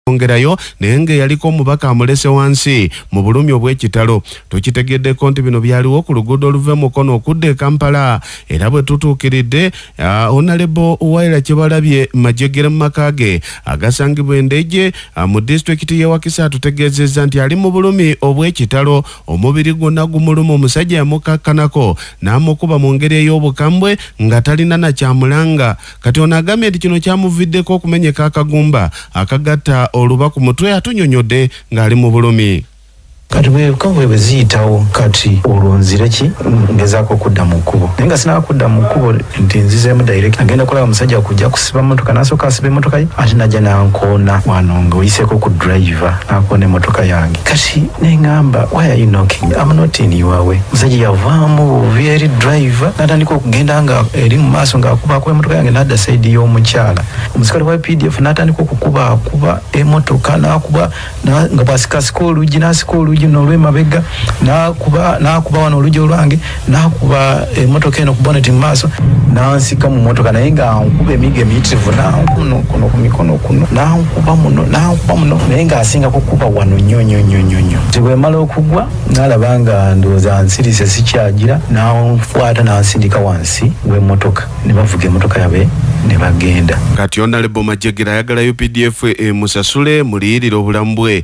ongerayo naye ng'eyaliko omubaka amulese wansi mu bulumi obw'ekitalo tukitegeddeko nti bino byaliwo ku luguudo oluva e mukono okudda e kampala era bwe tutuukiridde onalebo waira kyebalabye majegere mu maka ge agasangibwa endeje mu disitulikiti y'ewakisa atutegeezezza nti ali mu bulumi obw'ekitalo omubiri gwonna gumuluma omusajja yamukakkanako n'amukuba mu ngeri ey'obukambwe nga talina nakyamulanga Kati ono agambye nti kino kyamuviddeko okumenyeka akagumba akagatta oluba ku mutwe atunyonyodde ng'ali mu bulumi. kati bwekavule bwe ziyitawo kati olwo nzire ki ngezaako okudda mu kkubo naye nga sinaba kudda mu kkubo nti nzizeemu direct agenda kulaba omusajja kujja kusiba motoka nasooka asiba emotoka ye ate najja nankoona wano ngaoyiseeko ku driver nakoona emotoka yange kati nengamba why are you knocking I'm not in your way musajja yavaamu bubi eri driver natandika okugenda nga eri mu maaso ng'akubakuba emotoka yange nadda saidi y'omukyala omusikale wa pdf natandika okukuba akuba emotoka nakuba nga bwasikasika oluggi nasika oluggi nolwemabega nakuba wano oluggi olwange n'akuba emmotoka eno ku boneti mu maaso n'ansika mu mmotoka naye nga nkuba emigo emiyitirivu nankuno kuno ku mikono kuno nankuba muno nankuba muno naye ng'asinga kukuba wano nnyo nnyo nnyo nnyo nnyo nti bwe mala okugwa n'alaba nga ndowooza nsirise sikyagira n'ankwata n'ansindika wansi w'emmotoka ne bavuga emmotoka yabe ne bagenda kati onalebo majegera ayagala updf emusasule muliyirire obulamu bwe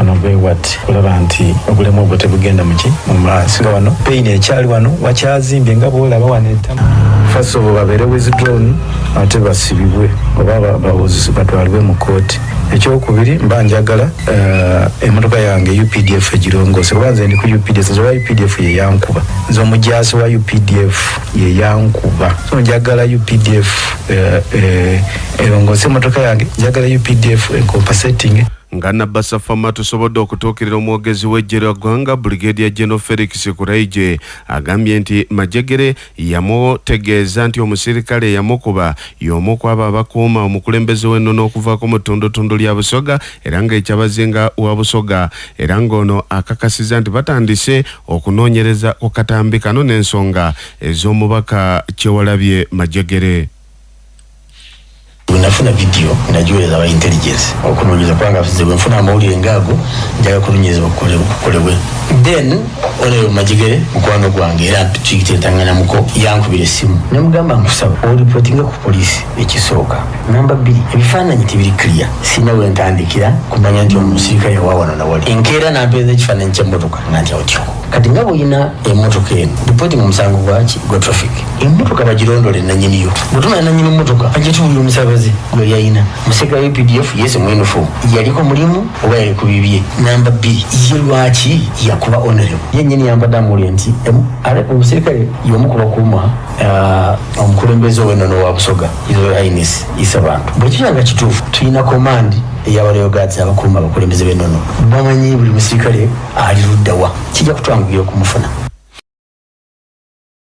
ono gwewati kulaba nti obulemu obwo tebugenda muki mumaaso nga wano peyini ekyali wano wakyazimbye nga bwolaba wano etama fasobo babeere withdrown ate basibibwe oba bawozisi batwalibwe mu kooti ekyokubiri mba njagala uh, emotoka yange updf egirongose kuba nze ndi ku updf nze oba updf yeyankuba nze omujaasi wa updf yeyankuba so njagala updf uh, uh, erongose emotoka yange njagala updf encompasetinge Nga Nabasa Fama tusobodde okutuukirira omwogezi w'eggye lya ggwanga Brigadier General Felix Kuraije agambye nti Majegere yamutegeeza nti omusirikale eyamukuba y'omu ku abo abakuuma omukulembeze w'ennono okuva ku mutundutundu lya Busoga era ng'ekyabazinga wa Busoga era ng'ono akakasiza nti batandise okunoonyereza ku katambi kano n'ensonga ez'omubaka Kyewalabye Majegere. bwenafuna vidiyo nagiweereza aba intelligence okunoonyeza kubanga nze bwenfuna amawulire ngaago njaga kunoonyezebwa kukolebwe then oneyo magigere mukwano gwange era kigitentanganamuko yankubira essimu nemugamba nkusaba oripotinga ku poliisi ekisooka namba bbiri ebifaananyi tebiri clear sina wentandikira kumanya nti omusirika yawawano nawali enkeera nampeeza ekifaananyi kyemmotoka nga nti otyo kati nga bwolina emmotoka eno ripotinga omusango gwaki gwa traffic emmotoka bagirondole nanyiniyo bwetumanya nanyini mmotoka ajja tuwulira omusabaze gwe yalina museka updf yese mwenufu yaliko mulimu oba yali ku bibye namba bbiri ye lwaki yakuba onerebo yenyini yambadde amuwulire nti em- ale- omusirikale yomu ku bakuuma ah, omukulembeze owenono wa busoga isoines isa bantu bwekiba nga kituufu tulina komandi eyabaleyo gads abakuuma abakulembeze benono bamanyi buli musirikale ali luddawa kijja kutwangugira okumufuna